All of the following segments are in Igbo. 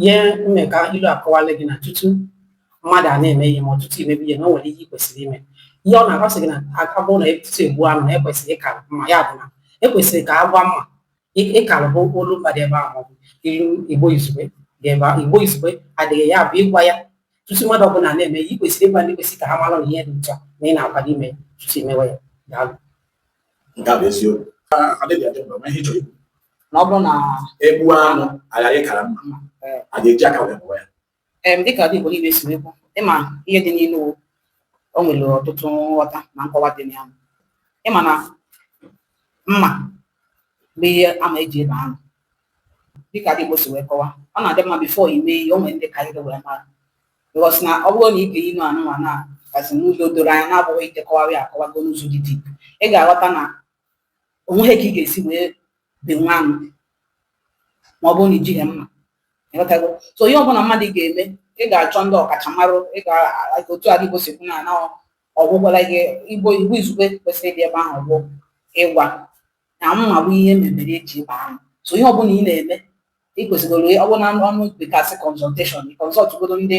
ihe mmeka ilu akọwala gị na tutu mmadụ a na-eme ihe maọbụ tutu imebe ihe na o nwere ihe ị kwesịrị ime ihe ọ na-agwa sị gị na aka bụrụ na tutu egbuo anụ na ekwesịrị ịkara mma ya bụ na ekwesịrị ka agwa mma ịkara bụ olu mba dị ebe ahụ maọbụ ilu igbo izugbe dị ebe ahụ igbo izugbe adịghị ya bụ ịgwa ya tutu mmadụ ọbụla na-eme ihe ị kwesịrị ịgwa ndị kwesịrị ka ha mara na ihe dị otu a na ị na-akwado ime tutu imewe ya daalụ nke a bụ eziokwu adịghị adị mgbe ihe chọrọ ikwu na ọ bụrụ na egbuo anụ aghara ịkara mma a ga-eji aka wee bọọ ya em dịka ndị Igbo niile si wee kwuo ịma ihe dị n'ilu o, o nwere ọtụtụ nghọta na nkọwa dị na ya ịma na mma bụ ihe ama eji ebe anụ dịka ndị Igbo si wee kọwa ọ na-adị mma before ime ihe o nwere ndị karịrị wee mara because na ọ bụrụ na ị ga-eyi nụ anụmanụ a kasị n'ụzọ doro anya na-abụghị ite kọwara ya akọwago n'ụzọ dị deep ị ga-aghọta na onweghị ka ị ga-esi wee bee nwa anụ ma ọ bụrụ na ijighị mma ịghọtago so ihe ọbụla mmadụ ga-eme ị ga-achọ ndị ọkachamara ị ga otu ndị igbo si kwu na na ọgwụgwala gị igbo igbo izugbe kwesịrị ịdị ebe ahụ bụ ịgwa na mma bụ ihe mebere eji ebe anụ so ihe ọbụla ị na-eme ị kwesịgoro ọ bụrụ na ọnụ bekee a sị consultation ị consult godo ndị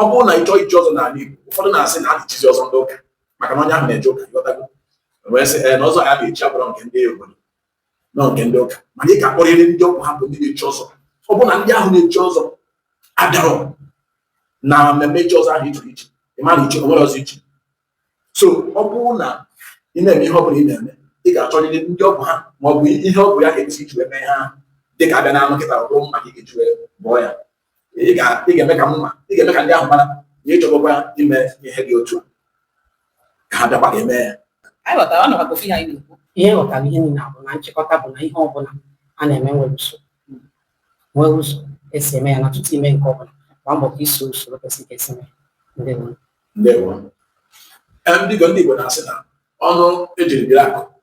ọ bụrụ na ị chọọ ichi ọzọ n'ala Igbo ụfọdụ na-asị na a na-echizi ọzọ ndị ụka maka na onye ahụ na-eje ụka ịghọtago wee sị ee na ọzọ ya na-echi abụrọ nke ndị obodo na ọ nke ndị ụka mana ị ga-akpọrịrị ndị ọ bụ ha bụ ndị na-echi ọzọ ọ bụrụ na ndị ahụ na-echi ọzọ abịarọ na mmemme ichi ọzọ ahụ ichiri ichi ị ma na ichi onwerọ ọzọ ichi so ọ bụrụ na ị na-eme ihe ọ bụla ị na-eme ị ga-achọrịrị ndị ọ bụ ha ma ọ bụ ihe ọ bụ ya ga-esi iji wee mee ha dị ka abịa na anụ kịta ọ bụ mma ka ị ga-eji wee bọọ ya ị ga-eme ka mma ị ga-eme ka ndị ahụ mara na ịchọgokwa ime ihe dị otu a ka ha bịakwa ga-eme ya ihe ghọtara ihe niile bụ na nchịkọta bụ na ihe ọbụla a na-eme nwere usoro nwee ụzọ esi eme ya na tutu ime nke ọbụla gba mbọ ka iso usoro kwesịrị ka esi mee ndewo ndewo ndị Igbo na-asị na ọnụ ejiri biri akụ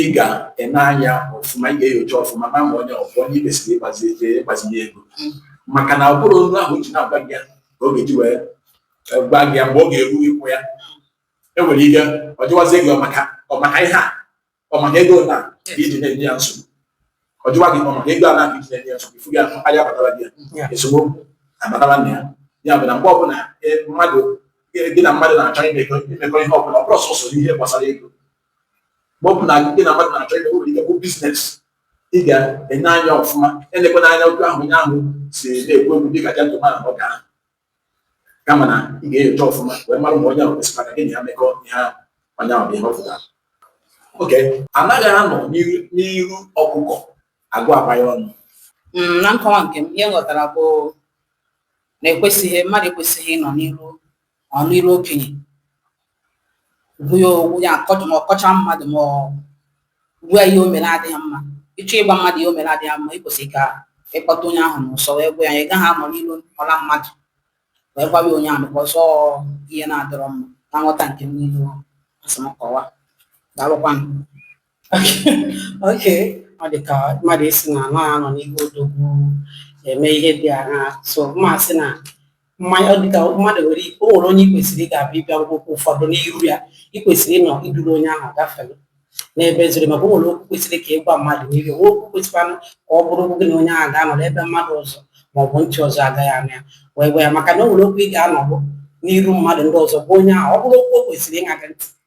ị ga-ene anya ọfụma ị ga-enyocha ọfụma na ma onye ọfụ onye ikwesịrị ịgbazinye ego maka na ọ bụrọ olu ahụ o ji na-agwa gị ya ka ọ ga-eji wee e, gwa gị ya mgbe ọ ga-eru ịkwụ ya enwere ike ọ jụwazie gị ọ maka ọ maka ihe a ọ maka ego na iji na-enye ya nsogbu ọ jụwa gị ọ maka ego a na iji na-enye ya nsogbu ifu gị ahụ anya batara gị ya esemokwu abatara na ya ya bụ na mgbe ọbụla e, mmadụ gị na mmadụ na-achọ imekọ ihe ọbụla ọ bụrọ sọsọ ihe gbasara ego mgbe ọ bụla gị na mmadụ na-achọ ime nwere ike bụ biznes ị ga-enye anya ọfụma elekwana anya otu ahụ onye ahụ si na-ekwu okwu dị ka jentụman ọ ga kama na ị ga-enyocha ọfụma wee mara ma onye ahụ kwesịrị maka gị na ya mekọ ihe ahụ onye ahụ bụ ihe ọ pụtara okay anaghị anọ n'iru ọkụkọ agụ abụba ya ọnụ mm, na nkọwa nke m ihe m ghọtara bụ na ekwesịghị mmadụ ekwesịghị ịnọ n'iru ọnụ iru okenye onwe ya onwe ya akọcha ma ọ kọcha mmadụ ma ọ gwa ya ihe o mere adịghị mma ị chọọ ịgwa mmadụ ihe o mere adịghị mma i kwesịrị ka ị kpọta onye ahụ n'ụsọ wee gwa ya ị gaghị anọ n'ilu ọla mmadụ wee gwawa onye ahụ ka ọzọ ihe na-adọrọ mma na nghọta nke m n'ilu a sị m kọwaa daalụkwanụ okay ọ dị ka mmadụ ịsị na anaghị anọ n'ihu odogwu eme ihe dị agha so mmasị na mmanya ọ dị ka mmadụ nwere o nwere onye i kwesịrị ga-abịa ịbịa ngwụkwọ ụfọdụ n'iru ya i kwesịrị ịnọ i duru onye ahụ gafere n'ebe zoro maka o nwere okwu kwesịrị ka ị gwa mmadụ n'iru nwee okwu kwesịkwanụ ka ọ bụrụ gị na onye ahụ ga-anọ n'ebe mmadụ ọzọ ma ọ bụ ntị ọzọ agaghị anụ ya wee gwa ya maka na o nwere okwu ị ga-anọbụ n'iru mmadụ ndị ọzọ gwa onye ahụ ọ bụrụ okwu o kwesịrị ịṅa gị ntị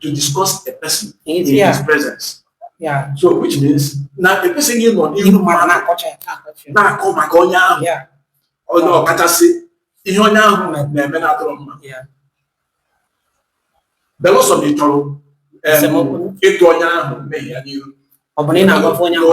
to discuss a person in yeah. his presence. Yeah. So which means now a person you know you know ị mara na-akọcha na-akọ maka onye ahụ yeah. ọkachasị ihe onye ahụ na-eme na-adọrọ mma belụsọ na ị chọrọ ịtụ onye ahụ mmehie ya n'ihu ọ bụ na ị na-agwafe onye ahụ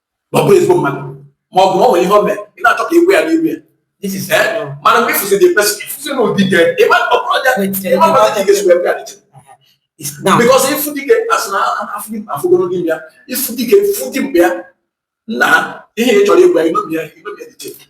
ma ọ bụrụ ezigbo mmadụ ma ọ bụ na o nwere ihe o mere ị na-achọ ka ị gwa ya n'ihu ya This is Eh? no. mana mgbe ị fụzie the person ị fụzie na ọ dike ịma ọ bụrụ ọja Wait, eh, ịma mmadụ ka ị ga-esi wee bịa dị iche It's now. bikọs ị fụ dike a sị na a fụ dimkpa a fụ ogologo imi ya ị fụ dike ị fụ dimkpa ya nna ha ihe ị chọrọ ịgwa ya ịnọbi ya ịnọbi ya dị iche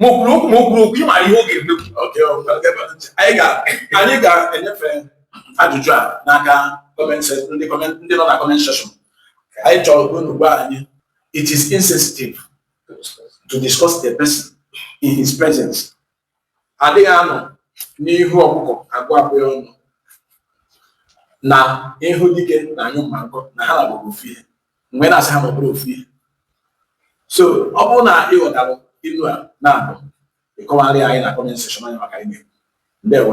ma o kwuru okwu ma o kwuru okwu ị mara ihe ọ ga-emekwu Okay, ọ bụla ebe a. anyị ga anyị ga-enyefe ajụjụ a n'aka comment se- ndị comment- ndị nọ na comment section anyị chọrọ ka unu gwa anyị it is insensitive to discuss a person in his presence adịghị anọ n'ihu ọkụkọ agụ abụba ya ọnụ na ihu dike na-anyụ mma nkọ na ha naabọ bụ ofu ihe mgbe na-asị ha na ọ bụrọ ofu ihe so ọ bụrụ na ị ghọtara ilu a naabọ ị kọwaara anyị na kọment sekshọn anyị maka ime ndewo